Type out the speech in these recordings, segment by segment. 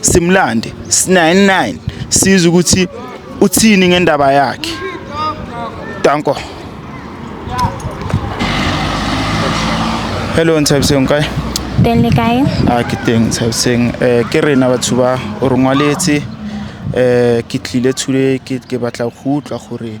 simlande sinaye nine siza ukuthi uthini ngendaba yakhe danko hello nthabiseng kae teng le kae a ke teng nthabiseng um eh, ke rena batho ba o re ngwaletse um eh, ke tlile thule ke batla go utlwa gore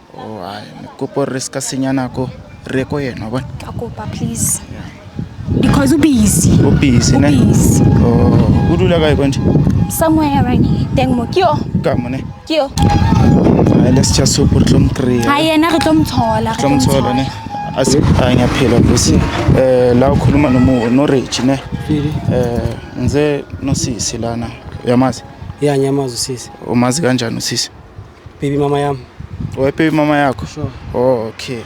Oh, hayi kopo re ska senya nako re ko yena bona ka kopa please because ubusy o busy ne ubusy oh o dula kae konje somewhere around here teng mo kio ka mone kio hayi let's just hope re tlo mo kry ha yena re tlo mo thola tlo mo thola ne a se a nya phela bosi eh la ukhuluma nomu no rich ne eh nze no sisi lana yamazi ya nyamazi sisi umazi kanjani usisi Baby mama yami. Owe baby mama yakho? Sure. Oh, okay.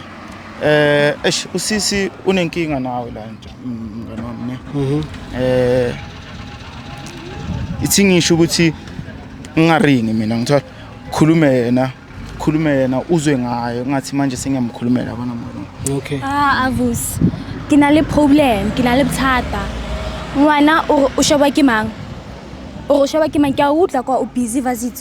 Eh, eish usisi unenkinga nawe la nje. Mm, Ngane wami ne. Mhm. Eh ithi ngisho ukuthi ngingaringi mina ngithola khulume yena khulume yena uzwe ngayo ngathi manje sengiyamkhulumela bona mona. Okay. Ah, Avus. Ke na le problem, ke na le bothata. Ngwana o re o sheba ke mang? O re o sheba ke mang? Ke a utlwa kwa o busy vasit.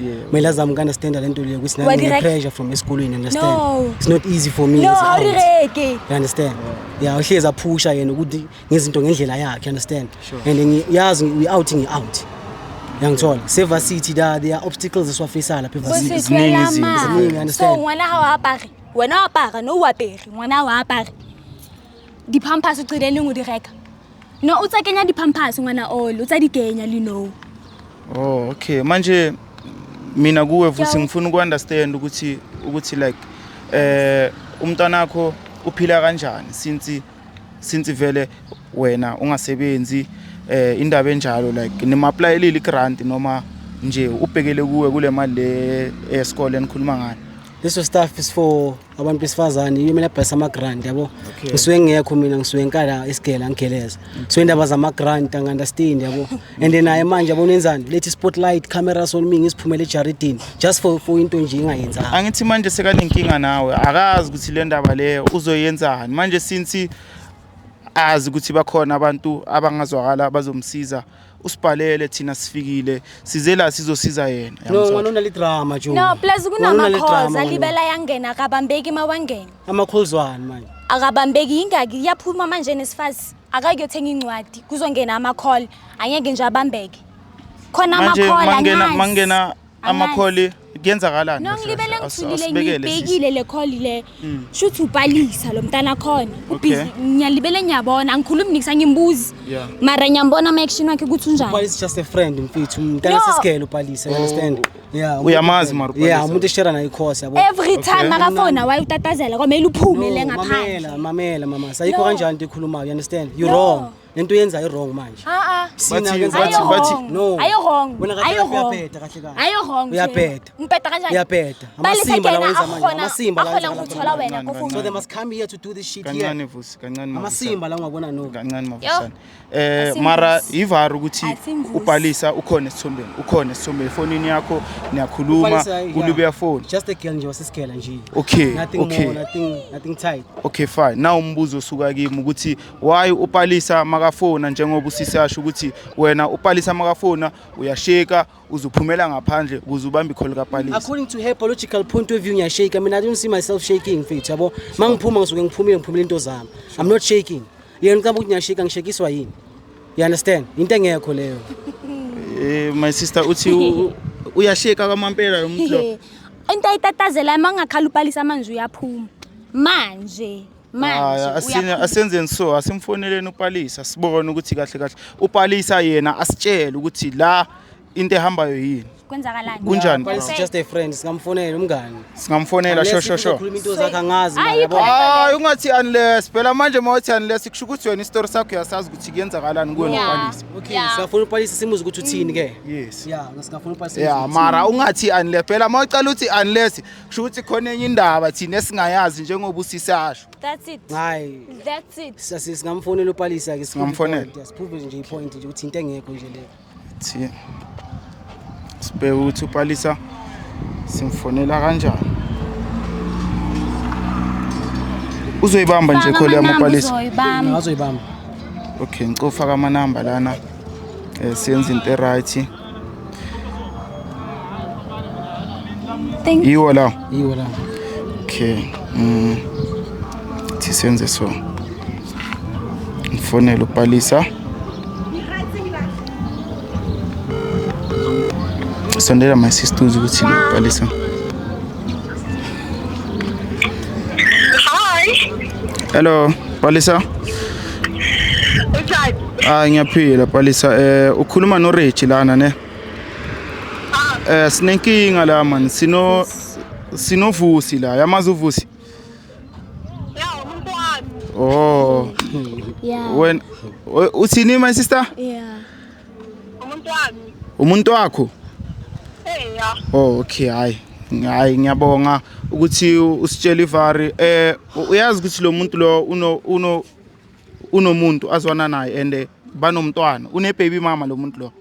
Yeah. May lazam ka understand le nto leyo ukuthi Wa nami direct- pressure from esikolweni understand. No. It's not easy for me. No, as a aunt. awureke. You understand? Yeah, uhlezi aphusha yena ukuthi ngezinto ngendlela yakhe, you understand? Sure. And ngi- yazi ngi- we out ngi out. Yangithola. Seva City da there are obstacles esiwafaceala lapha Eva City. Ziningi Bositshwela izinto, ziningi, ma. understand. So ngwana ha o apare. Wena o apara, no o apere. Ngwana ha o apare. Di-pampers o qile leng o di reka. No, o tsa kenya di-pampers ngwana all, o tsa di kenya le no. Oh, okay. Manje mina kuwe futhi Yabo. ngifuna uku-understand ukuthi ukuthi like eh umntwana wakho uphila kanjani since since vele wena ungasebenzi eh indaba enjalo like nimapplyelile i-grant noma nje ubhekele kuwe kule mali le esikole enikhuluma ngayo This was stuff is for abantu besifazane yiyo mina bhasa ama-grant yabo okay. ngisuke ngekho mina ngisuke ngikala isigela ngigeleza okay. so indaba zama-grant angi-understand yabo and then naye manje yabo nenzani lethi spotlight cameras on me ngisiphumele ejaridini just for, for into nje ingayenzanga angithi manje sekanenkinga nawe akazi ukuthi le ndaba leyo uzoyenzani manje since azi ukuthi bakhona abantu abangazwakala bazomsiza usibhalele thina sifikile size la sizosiza yena no yamuzwa? mani unalidrama jo no plus kunama-calls alibela yangena akabambeki uma wangena ama-calls wani manje akabambeki yingaki iyaphuma manje nesifazi akakuyothenga incwadi kuzongena ama-call angeke nje abambeke khona Manje ama-call mangena anginazi. mangena amakholi kuyenzakalani no ngilibele ngithulile ngiyibhekile le call le hmm. shuthi ubhalisa lo mntana khona ubhizi ngiyalibele ngiyabona angikhulumi nix angimbuzi mara ngiyambona ama action wakhe ukuthi unjani ubhalisa just a friend mfethu umntana sesigele ubhalisa you understand oh. yeah uyamazi mara ubhalisa yeah umuntu eshare naye course yabo every time makafona waye utatazela kwamele uphume le ngaphandle mamela mamela mama sayikho kanjani into ekhulumayo you understand you wrong lento yenza irong manje ah, ah. um mara yivara ukuthi ubhalisa ukhona esithombeni ukhona esithombeni efonini yakho niyakhuluma kulubeya foni okay okay okay fine na umbuzo osuka kimi ukuthi why upalisa makafona njengoba usisi asho ukuthi wena upalisa makafona uyasheka uzuphumela ngaphandle ukuze ubambe ikholo kapalisa according to her biological point of view ngiyashake mina i don't see myself shaking mfethu yabo mangiphuma ngisuke ngiphumile ngiphumile into zami i'm not shaking yena ucaba ukuthi ngiyashika ngishekiswa yini you understand into engekho leyo eh my sister uthi uyasheka kwamampela lo muntu lo into ayitatazela mangakhala upalisa amanzi uyaphuma manje manje asenzeni so asimfoneleni upalisa sibone ukuthi kahle kahle upalisa yena asitshele ukuthi la into ehambayo yini kwenzakalani kunjani it's just a friend singamfonela umngani singamfonela sho sho sho into zakhe angazi hayi ungathi unless phela manje mawuthi unless kusho ukuthi wena istory sakho uyasazi ukuthi kuyenzakalani kuwe ngopalisa okay siyafuna upalisa simuze ukuthi uthini ke yes yeah singafuna upalisa yeah mara ungathi unless phela mawucela uthi unless kusho ukuthi khona enye indaba thina esingayazi njengoba usisasho That's it. hayi That's it. sa- si- singamfonela upalisa ke Singamfonela? siphuphe nje ipoint nje ukuthi into engekho nje le thi sibheke ukuthi upalisa simfonela kanjani uzoyibamba nje khole yami upalisa Zoyibamba. ngazoyibamba okay ngicofaka amanamba lana um senze into eright Thank you. Iwo la. Iwo la. Okay. Mm. Sisenze so. Ngifonela uPalisa. Sondela my sister ukuthi uPalisa. Hi. Hello, Palisa. Ushadi. Hayi ngiyaphila Palisa eh ukhuluma no Reggie lana ne. Eh sinenkinga la man sino sinovusi la yamazi uvusi. Ya umuntu wami. Oh. Yeah. Wena u- uthini my sister? Yeah. umuntu wami umuntu wakho hey ya oh okay hayi hayi ngiyabonga ukuthi usitshela ivari eh uyazi ukuthi lo muntu lo uno uno unomuntu azwana naye and eh, banomntwana une baby mama lo muntu lo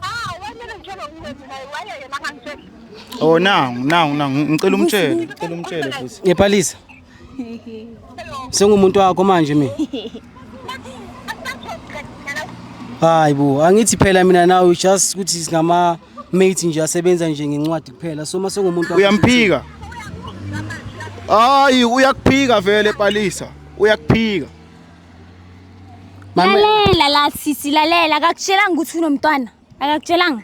ah wena ngitshela ukuthi naye waye yena ngangitshela oh nangu nangu nangu ngicela umtshele ngicela umtshele futhi ngepalisa Sengumuntu wakho manje mina. Hayi bo, angithi phela mina nawe just ukuthi singama mates nje asebenza nje ngencwadi kuphela. So mase ngumuntu wakho. Uyamphika. Hayi uyakuphika vele Palisa. Uyakuphika. Mama lalela la sisi lalela akakutshelanga ukuthi unomntwana akakutshelanga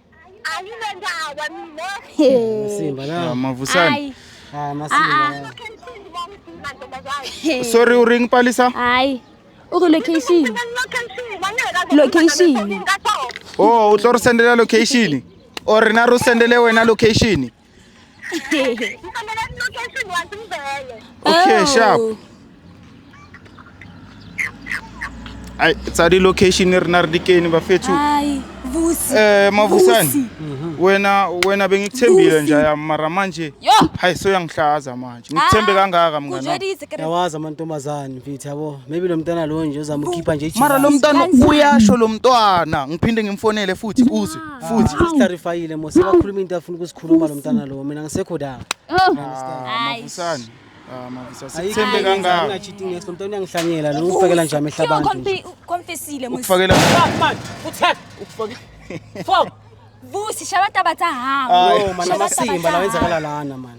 Masimba na. Mavusani. Hayi. Ah, masimba. Sorry u ring palisa? Hayi. U ri location. Location. Oh, u tlo ri sendela location. Or na ru sendele wena location. Ngifambela location wathi ngivele. Okay, Oh. sharp. Ai, tsa di location e rena re dikeni bafethu. Hayi, vusi. Eh mavusani. Vusi. Wena wena bengikuthembile Vusi. nje ya mara manje. Yo. Hayi so yangihlaza manje. Ngikuthembe Ah, kangaka mngana. Kuzwe dizi kere. yawazi amantombazane mfethu yabo maybe lo mntana lo nje uzamkhipha nje Mara lo mntana Kanzima. uyasho lo mntwana. Ngiphinde ngimfonele futhi uzwe. futhi clarifyile mose wakhuluma into afuna ukusikhuluma lo mntana lo mina ngisekho da mavusani sithembe kangaka ungacheating next mntana uyangihlanyela lo ufakela nje amehla abantu confessile mose ufakela manje uthatha ufakela fo vusi shabata batahamba no mana masimba la wenzakala lana manje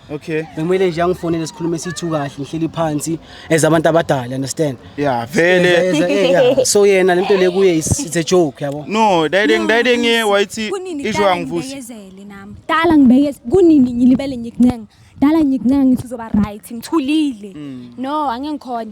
Okay. Bekumele nje angifonele sikhulume sithu kahle ngihleli phansi as abantu abadala understand? Yeah, vele. As- as- eh, yeah. So yena lento le kuye is it's a joke yabo. No, dayide ngidayide ngiye wayithi Kunini isho dala angivusi. ngibeyezele nami dala ngibeyeze kunini ngilibele ngikuncenga dala ngikuncenga ngithi uzoba right ngithulile no angeke ngikhona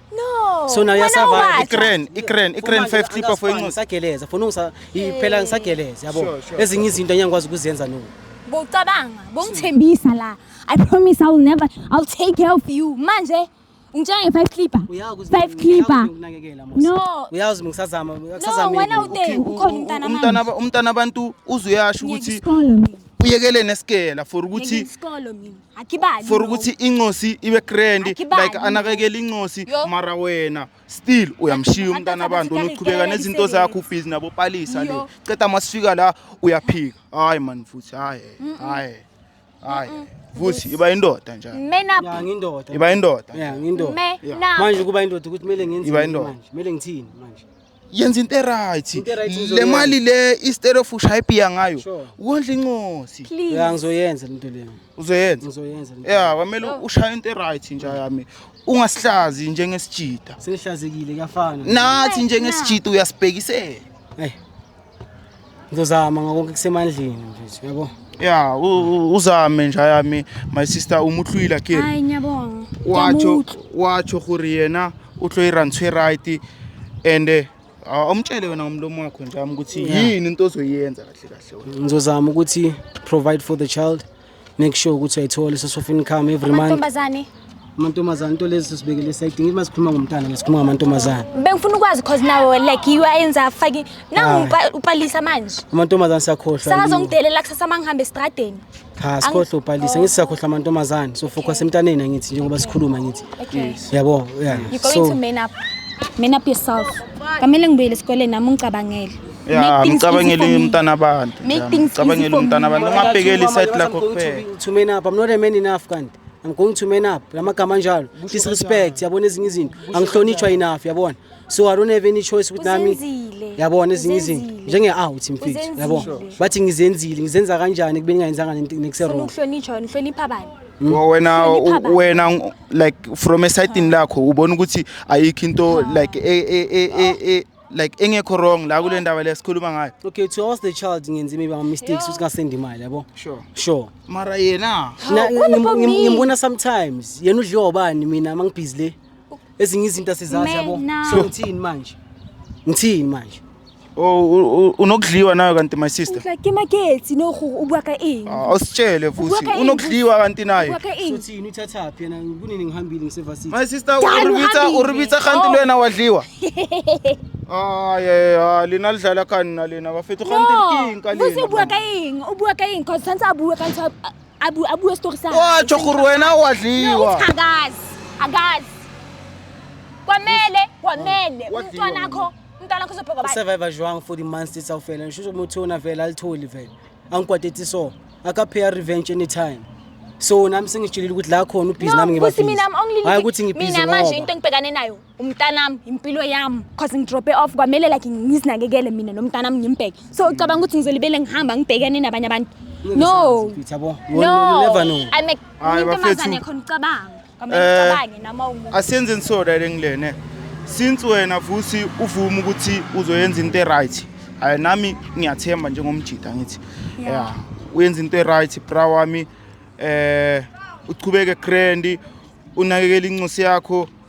No. So now wena uyasavaya. uwakha. Ikren, ikren, ikren 5 clipper for inxusa. Sageleza, funa ungisa iphela ngisageleza yabo. Sure, sure, Ezinye izinto angeke ngikwazi ukuzenza no. Bocabanga, bongithembisa la. I promise I will never I'll take care of you. Manje ngitshela nge-five clipper. Uyazi ukuthi Five mina- clipper. uyazi ukunakekela, Mos. No. Uyazi ngisazama, No, ngisazama. wena uthe ukhona umntana Umntana manje. ba- umntana abantu uzuyasho Ngiyeke ukuthi isikolo mina. uyekele nesikela for Ngiyeke ukuthi isikolo mina. akibali for lokho. ukuthi incosi ibe grand Akibali like anakekela incosi Yo. mara wena still uyamshiya Abantu umntana abantu abathi unoqhubeka karikela nezinto imisebenzi. zakho ubhizi nabo palisa le Yo. ceda masifika la uyaphika hayi man futhi hayi hayi hayi futhi iba indoda njalo men up ya ngindoda iba indoda ya ngindoda men Yeah. up manje ukuba indoda ukuthi kumele ngenzeni Iba indoda. manje kumele ngithini manje yenza into eright Into e-right le uzoyenza. mali le isterofu ushaya ibhiya ngayo Sure. wondla incosi Please. Ya ngizoyenza lento leyo. uzoyenza Ngizoyenza. lento. ya kwamele ushaye into eright nja yami ungasihlazi njengesijida Sengihlazekile kuyafana. nathi Ay, njengesijida uyasibhekisela Hey, ngizozama ngakonke kusemandleni mfethu yabo ya uzame nja yami my sister umutlwila ke hayi ngiyabonga watsho watsho gore yena o tlo ira ntshwe right and eh, awumtshele wena ngomlomo wakho njami ukuthi yini into ozoyenza kahle kahle wena ngizozama ukuthi provide for the child make sure ukuthi ayithole source of income every month Amantombazane. amantombazane into lezi sibekele sayidinga uma sikhuluma ngomntana nje sikhuluma ngamantombazane Bengifuna ukwazi cause nawe like you ayenza faki nangu upa- upalisa manje. amantombazane sakhohlwa Sakazongidelela kusasa mangihambe estradeni. cha sikhohlwa ubhalisa ngithi sakhohlwa amantombazane so focus emntaneni angithi njengoba sikhuluma ngithi Okay. yabo yeah You're going to so man up. Man up yourself. Kamele ngibuyele esikoleni nami ungicabangele. ya Make things mcabangele easy for me. umntana abantu Make ya, things easy mcabangele for umntana me. abantu Mama, ungabhekeli mama, isayidi lakho I'm going to kuphela be- to man up i'm not a man enough kanti i'm going to man up la magama anjalo disrespect yabona ezinye izinto angihlonitshwa enough yabona so i don't have any choice ukuthi nami Uzenzile. yabona ezinye izinto Uzenzile. njenge-out mfethu Uzenzile. yabona bathi ngizenzile ngizenza kanjani ekubeni ngayenzanga Ufuna nekuse-wrong ukuhlonitshwa nihlonipha bani Wo- wena Hlonipha u- abantu. wena ng- like from esayidini lakho ubona ukuthi ayikho into like e- e- e- e- e- like engekho wrong la kule ndaba le sikhuluma ngayo okay to ask the child ngenze maybe ama mistakes ukuthi ngasendi imali yabo sure sure mara yena ngimbona sometimes yena udliwa ubani mina mangibhizi le ezinye izinto asizazi yabo so ngithini manje ngithini manje Oh unokudliwa nayo kanti my sister. Like ke magetsi no go o bua ka eng? Ah, Awusitshele futhi unokudliwa kanti nayo. Uthini uthathaphi yena kunini ngihambile ngiseva sithi. My sister uribitsa uribitsa kanti lwena wadliwa. aye a lena le dlala ka nna lena ba fetho gante ke eng ka lena o bua ka eng o bua ka eng cause santse a bua ka ntho a bua a bua story sa wa tsho gore wena wa dliwa agaz agaz kwamele kwamele umntwana akho umntwana akho sopheka ba survivor jwang for the months tsa ufela ngisho ukuthi ona vela alitholi vela angikwateti so akapheya revenge anytime so nami sengijilile ukuthi la khona ubhizi nami ngibabhizi hayi ukuthi ngibhizi ngoba mina manje into engibhekane nayo umntanami impilo yami cause ngidrope off kwamele like ngizinakekele mina nomntanami ngimbheke so ucabanga ukuthi ngizolibele ngihamba ngibhekene nabanye abantu no no i'm a ntomazane khona ucabanga kwamele eh, ucabange noma umuntu asenzeni so right ngilene since wena futhi uvuma ukuthi uzoyenza into right hayi nami ngiyathemba njengomjida ngithi yeah uyenza into right bra wami eh uchubeke grand unakekela incosi yakho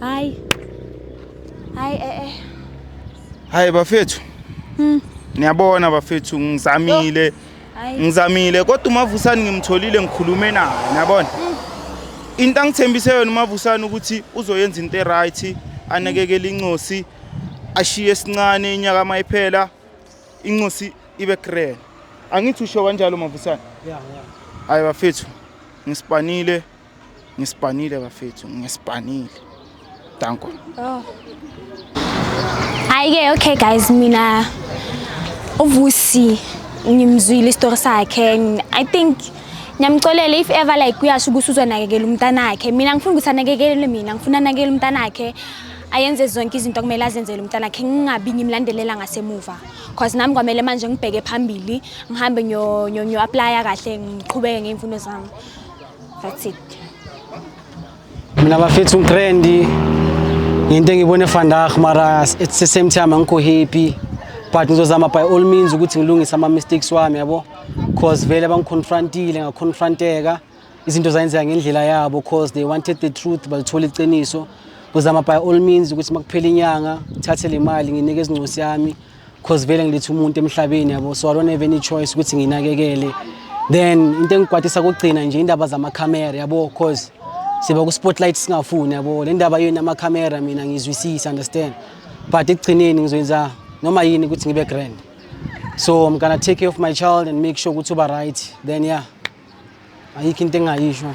Hayi. Hayi eh eh. Hayi bafethu. Hmm. Niyabona bafethu ngizamile. Ngizamile kodwa umavusani ngimtholile ngikhulume naye niyabona. Hmm. Into angithembise yona umavusani ukuthi uzoyenza into eright anekekele incosi ashiye sincane inyaka mayiphela incosi ibe grand. Angithi usho kanjalo mavusani? Yeah yeah. Hayi bafethu ngisipanile Ngispanile bafethu, ngispanile. Danko. Oh. Hayi ke okay guys mina uvusi ngimzwile istory sakhe and I think ngiyamxolela if ever like kuyasho ukuthi uzonakekela umntanakhe mina ngifuna ukuthi anakekele mina ngifuna anakekele umntanakhe ayenze zonke izinto kumele azenzele umntana khe ngingabi ngimlandelela ngasemuva cause nami kwamele manje ngibheke phambili ngihambe ngiyo-aplaya kahle ngiqhubeke ngey'mfundo zami That's it. Mina bafethu ngitrendi ngento engibone vandag mara it's the same time angikho happy but ngizozama by all means ukuthi ngilungise ama mistakes wami yabo cause vele bangiconfrontile ngaconfronteka izinto zayenzeka ngendlela yabo cause they wanted the truth balithole iqiniso ngizama by all means ukuthi makuphela inyanga thathe le mali nginike izincosi yami cause vele ngilethe umuntu emhlabeni yabo so i don't have any choice ukuthi nginakekele then into engikwatisa kugcina nje indaba zamakhamera yabo cause siba ku-spotlight singafuni yabo le ndaba yenu amakhamera mina ngizwisisa understand but ekugcineni ngizoyenza noma yini ukuthi ngibe grand so i'm gonna take care of my child and make sure ukuthi uba right then yeah ayikho into engingayisho